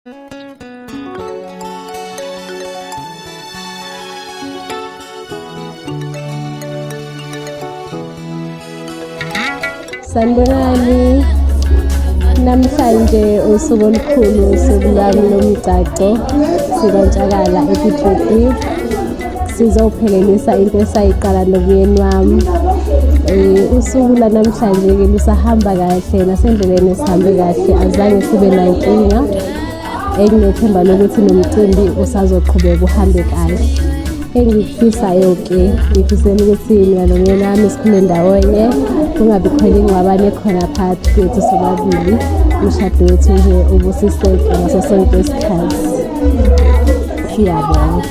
Sanibonani. Namhlanje usuku olukhulu usuku lwami lomgcagco sikantshalala ePitruthi. sizophelelisa into esayiqala nomyeni wami um usuku lanamhlanje-ke lusahamba kahle nasendleleni esihambe kahle azange sibe nankinga enginethemba lokuthi nomcimbi usazoqhubeka uhambe kahle engikufisayo-ke ngifisela ukuthi mina nomyeni wami sikhule ndawonye kungabi khona ingxabane khona phakathi kwethu sobabili umshado wethu nje ubusiseke ngaso sonke isikhathi siyabonga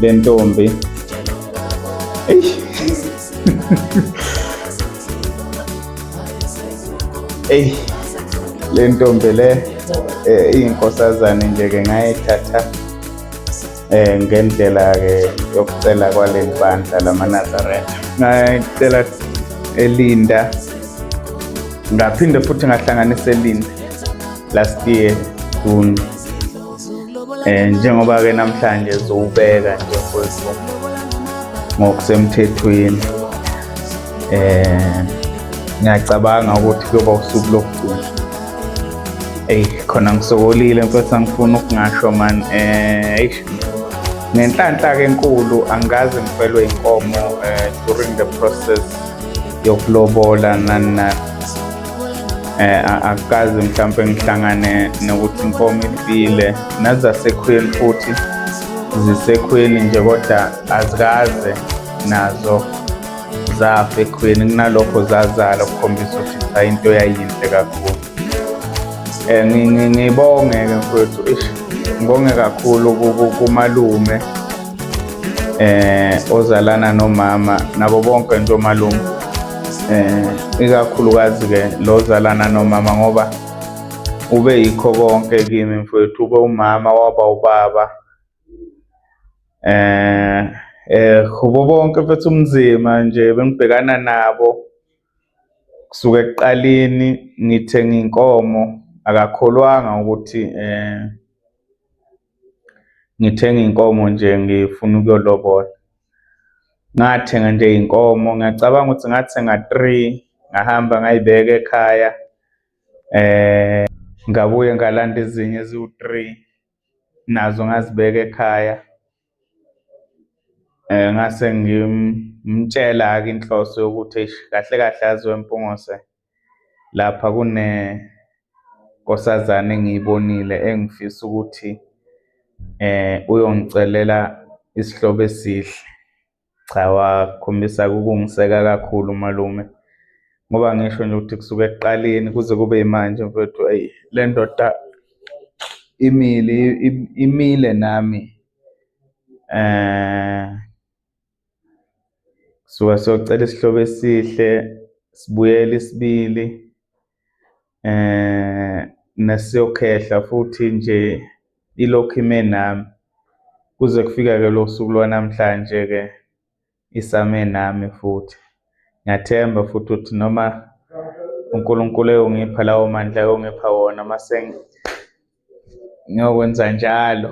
le ntombi eish eyi le ntombi le eh, iyinkosazane nje-ke ngayithatha eh ngendlela-ke yokucela kwaleli bandla lamanazaretha ngayicela elinda ngaphinde futhi ngahlanganisa elinda last year june eh njengoba ke namhlanje zowubeka nje mfowethu ngokusemthethweni eh ngiyacabanga ukuthi kuyoba usuku lokugcina eyi khona ngisokolile mfethu angifuni ukungasho mani um eh, eish ngenhlanhla-ke enkulu angikaze ngifelwe inkomo um eh, during the process yokulobola nani nani eh akukaze mhlawumbe ngihlangane nokuthi inkomo ifile nazasekhweni futhi zisekhweni nje kodwa azikaze nazo zafa ekhweni kunalokho zazala ukukhombisa ukuthi cha into yayinhle kakhulu eh ngibonge ke mfowethu ish ngibonge kakhulu kumalume eh ozalana nomama nabo bonke nje omalume um ikakhulukazi-ke lo zalana nomama ngoba ube yikho konke kimi mfowethu ube umama waba ubaba eh eh kubo bonke mfethu umzima nje bengibhekana nabo kusuke ekuqaleni ngithenga inkomo akakholwanga ukuthi eh ngithenga inkomo nje ngifuna ukuyolobola ngathenga nje inkomo ngiyacabanga ukuthi ngathenga three ngahamba ngayibeka ekhaya eh ngabuye ngalanda ezinye eziwu-three nazo ngazibeka ekhaya eh ngase ngimtshela-ke inhloso yokuthi kahle kahle aziwe mpungose lapha kune nkosazane engiyibonile engifisa ukuthi eh uyongicelela isihlobo esihle cha wakhombisa ukungiseka kakhulu malume ngoba ngisho nje ukuthi kusuke ekuqaleni kuze kube yimanje mfethu ayi le ndoda imile imile nami eh suka siyocela isihlobo esihle sibuyele isibili eh nesiyokhehla futhi nje ilokhu ime nami kuze kufika ke lo suku lwanamhlanje ke isame nami futhi ngiyathemba futhi ukuthi noma uNkulunkulu eyongipha lawo mandla ayongipha wona mase ngiyokwenza njalo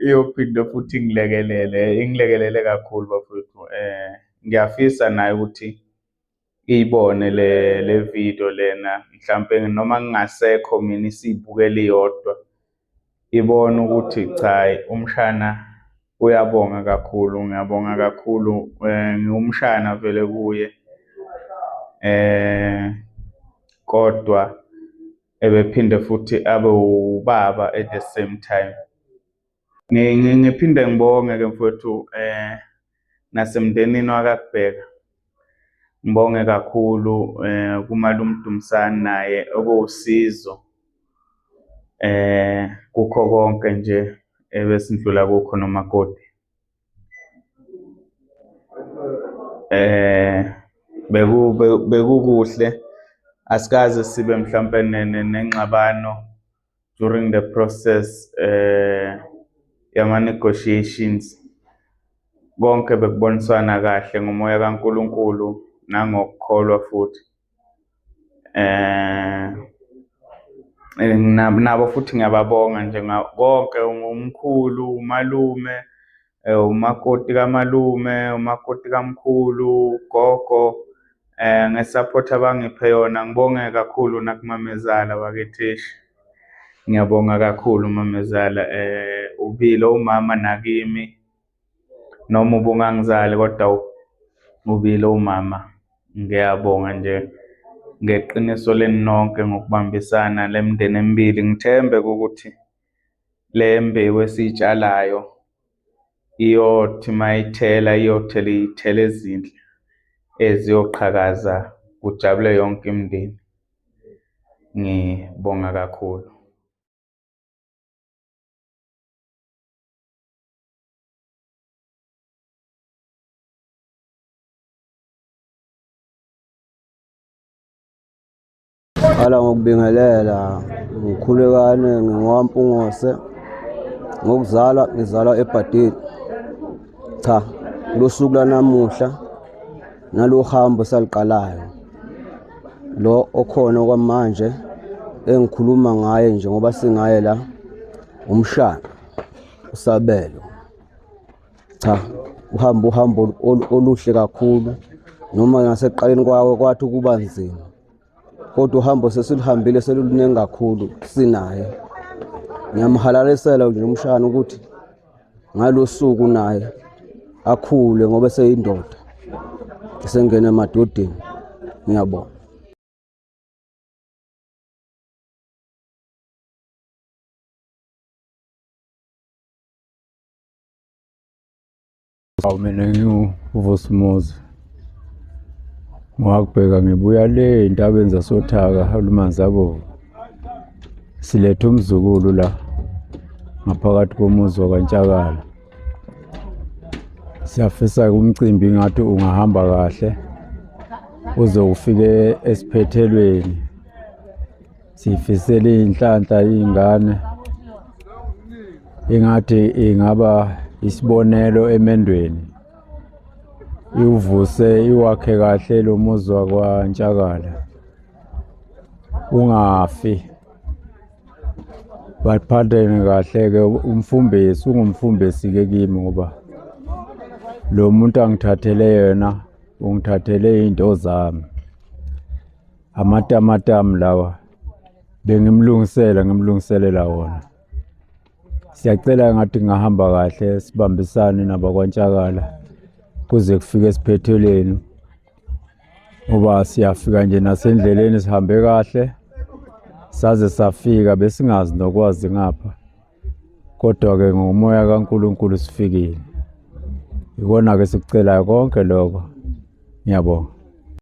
iyophinde futhi ingilekelele ingilekelele kakhulu bafowethu eh ngiyafisa naye ukuthi iyibone le le video lena mhlampe noma ngingasekho mina isibukele iyodwa ibona ukuthi cha umshana uyabonga kakhulu ngiyabonga kakhulu eh, ngiwumshana vele kuye eh kodwa ebephinde futhi abe ubaba at the same time ngiphinde ngibonge ke mfowethu eh nasemndenini wakakubheka ngibonge kakhulu eh kumalumdumsani naye okuwusizo eh kukho konke nje ebesindlula kukho nomakoti eh beku bekukuhle asikaze sibe mhlawumbe nengxabano during the process eh yama negotiations konke bekuboniswana kahle ngomoya kaNkuluNkulu nangokukholwa futhi eh nabo futhi ngiyababonga nje konke umkhulu umalume eh, umakoti kamalume umakoti kamkhulu gogo eh ngesupport abangiphe yona ngibonge kakhulu nakumamezala bakethishi ngiyabonga kakhulu mamezala eh ubile umama nakimi noma ubungangizali kodwa ubile umama ngiyabonga nje ngeqiniso leni nonke ngokubambisana lemndeni emibili ngithembe ukuthi Le mbewu esiyitshalayo iyothi uma ithela iyothela iy'thelo ezinhle eziyoqhakaza kujabule yonke imindeni. Ngibonga kakhulu. Qala ngokubingelela ngikhulekane ngingowampungose ngokuzalwa ngizalwa ebhadile cha losuku lanamuhla nalohambo saliqalayo lo okhona kwamanje engikhuluma ngaye nje ngoba singaye la umshana usabelo cha uhamba uhambo oluhle kakhulu noma ngaseqaleni kwawo kwathi ukuba nzima kodwa uhambo sesiluhambile seluluningi kakhulu sinaye ngiyamhalalisela nje umshana ukuthi ngalosuku naye akhule ngoba seyindoda esengena emadodeni ngiyabona Awu mina ngiwuvusa umuzi ngwakubheka ngibuya le entabeni zasothaka olumanzi abovu siletha umzukulu la ngaphakathi komuzi wakantshakala siyafisa umcimbi ngathi ungahamba kahle uze ufike esiphethelweni siyifisele inhlanhla ingane ingathi ingaba isibonelo emendweni iwuvuse iwakhe kahle lo muzi wakwantshakala ungafi baphathene kahle-ke umfumbesi ungumfumbesi-ke kimi ngoba lo muntu angithathele yena ungithathele iy'nto zami amatamatam lawa bengimlungisela ngimlungiselela wona siyacela ngathi ngahamba kahle sibambisane nabakwantshalala kuze kufike esiphethelweni ngoba siyafika nje nasendleleni sihambe kahle saze safika besingazi nokwazi ngapha kodwa-ke ngomoya kankulunkulu sifikile ikona-ke sikucelayo konke lokho ngiyabonga